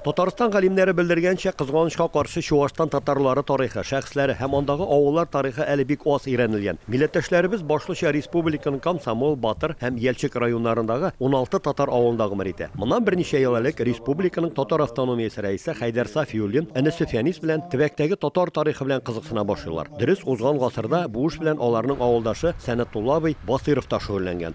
Татарстан галимнәре белдергәнчә, кызганычка каршы, Чуашстан татарлары тарихы, шәхесләре һәм андагы авыллар тарихы әле бик аз өйрәнелгән. Милләттәшләребез башлыча республиканың Комсомол, Батыр һәм Ялчык районнарындагы уналты татар авылында гомер итә. Моннан берничә ел элек республиканың татар автономиясе рәисе Хәйдәр Сафиуллин энесе Фәнис белән төбәктәге татар тарихы белән кызыксына башлыйлар. Дөрес, узган гасырда бу эш белән аларның авылдашы Сәнәтулла абый Басыйров та шөгыльләнгән.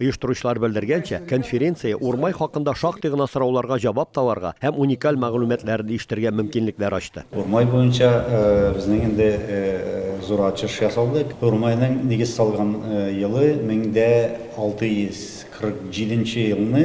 Оештыручылар белдергәнчә, конференция Урмай хакында шактый гына сорауларга җавап табарга һәм уникаль мәгълүматларын ишетергә мөмкинлекләр ачты. Урмай буенча безнең инде зур ачыш ясалды. Урмайның нигез салган елы 1647 елны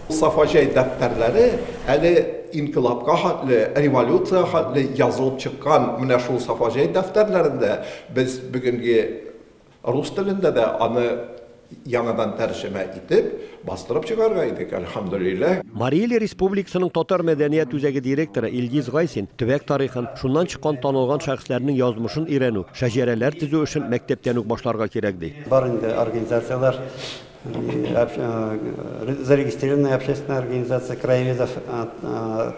Сафаҗай дәфтәрләре әле инкыйлабка хәтле, революциягә хәтле язылып чыккан. Менә шул Сафаҗай дәфтәрләрендә без бүгенге рус телендә дә аны яңадан тәрҗемә итеп, бастырып чыгарга идек, әлхәмдүлилләһ. Марий Ил Республикасының татар мәдәният үзәге директоры Илгиз Гайсин төбәк тарихын, шуннан чыккан танылган шәхесләрнең язмышын өйрәнү, шәҗәрәләр төзү эшен мәктәптән үк башларга кирәк, ди. Бар инде организацияләр, Зарегистрированная общественная организация краеведов,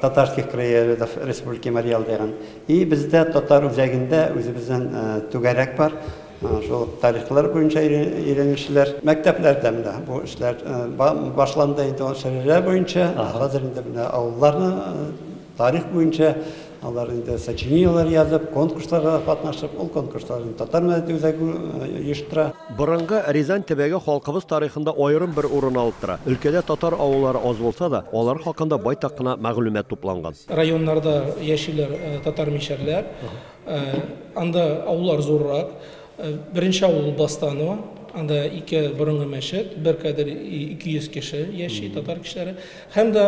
татарских краеведов Республики Марий Эл дигән. И бездә татар үзәгендә үзебездән түгәрәк бар. Шул тарихлар буенча өйрәнүчеләр. Мәктәпләрдә менә бу эшләр башланды инде ул шәһәрләр буенча. Хәзер инде менә авылларны Тарих буенча алар инде сочинениеләр язып, конкурсларда да катнашып, ул конкурсларны Татар мәдәният үзәге оештыра. Борынгы Рязань төбәге халкыбыз тарихында аерым бер урын алып тора. Өлкәдә татар авыллары аз булса да, алар хакында байтак кына мәгълүмат тупланган. Районнарда яшиләр татар мишәрләр. Анда авыллар зуррак. Беренче авыл Бастано. Анда ике борынгы мәчет, бер кадәр 200 кеше яши, татар кешеләре. Һәм дә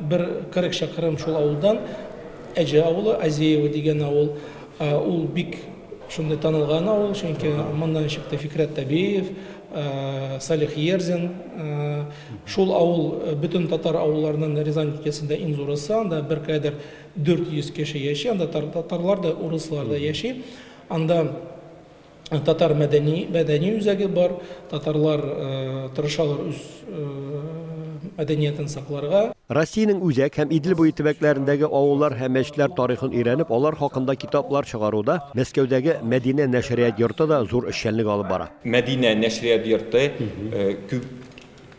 бер 40 чакрым шул авылдан Әҗә авылы, Азеево дигән авыл. Ул бик шундый танылган авыл, чөнки моннан чыкты Фикърәт Табеев, Салих Ерзин. Шул авыл бөтен татар авылларының Рязань өлкәсендә иң зурысы. Анда бер кадәр 400 кеше яши, анда татарлар да, урыслар да яши. Анда э, татар мәдәни, мәдәни үзәге бар, татарлар э, тырышалар үз э, мәдәниятен сакларга. Россиянең Үзәк һәм Идел буе төбәкләрендәге авыллар һәм мәчетләр тарихын өйрәнеп, алар хакында китаплар чыгаруда Мәскәүдәге Мәдинә нәшрият йорты да зур эшчәнлек алып бара. Мәдинә нәшрият йорты күп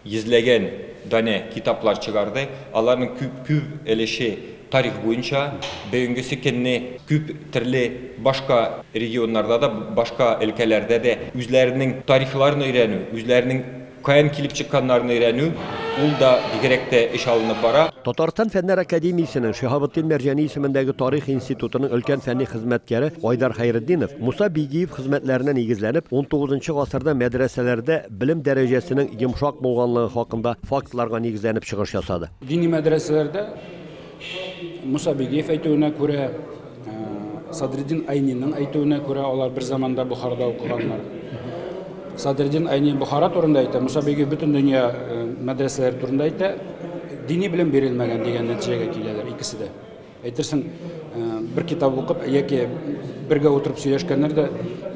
Йөзләгән данә китаплар чыгарды, аларның күп өлеше тарих буенча, бөгенгесе көнне күп төрле башка регионнарда да, башка өлкәләрдә дә үзләренең тарихларын өйрәнү, үзләренең каян килеп чыкканнарын өйрәнү, ул да бигрәк тә эш алынып бара. Татарстан Фәннәр академиясенең Шиһабетдин Мәрҗани исемендәге тарих институтының өлкән фәнни хезмәткәре Айдар Хәйретдинов, Муса Бигиев хезмәтләренә нигезләнеп, унтугызынчы гасырда мәдрәсәләрдә, белем дәрәҗәсенең йомшак булганлыгы хакында фактларга нигезләнеп чыгыш ясады. Дини мәдрәсәләрдә, Муса Бигиев әйтүенә күрә, Садреддин Айниның әйтүенә күрә, алар бер заманда Бохарада укыганнар. Садреддин Айни Бохара турында әйтә, Муса Бигиев бөтен дөнья мәдрәсәләре турында әйтә, дини белем бирелмәгән дигән нәтиҗәгә киләләр икесе дә. Әйтерсең, бер китап укып яки бергә утырып сөйләшкәннәр дә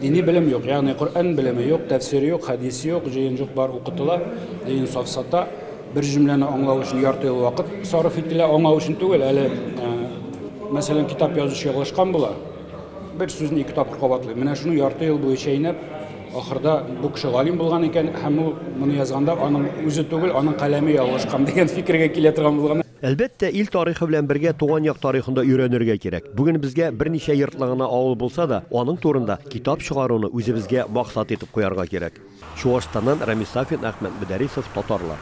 дини белем юк, ягъни Коръән белеме юк, тәфсир юк, хәдис юк, җыен җык бар укытыла, җыен сафсата, бер җөмләне аңлау өчен ярты ел вакыт сарыф ителә, аңлау өчен түгел, әле мәсәлән китап язучы ялгышкан була, бер сүзне ике тапкыр кабатлый. Менә шуны ярты ел буе чәйнәп, ахырда бу кеше галим булган икән һәм ул моны язганда аның үзе түгел, аның каләме ялгышкан дигән фикергә килә торган булган. Әлбәттә, ил тарихы белән бергә туган як тарихын да өйрәнергә кирәк. Бүген безгә берничә йортлы гына авыл булса да, аның турында китап чыгаруны үзебезгә максат итеп куярга кирәк. Чуашстаннан Рамис Сафин, Әхмәт Мөдәрисов, Татарлар.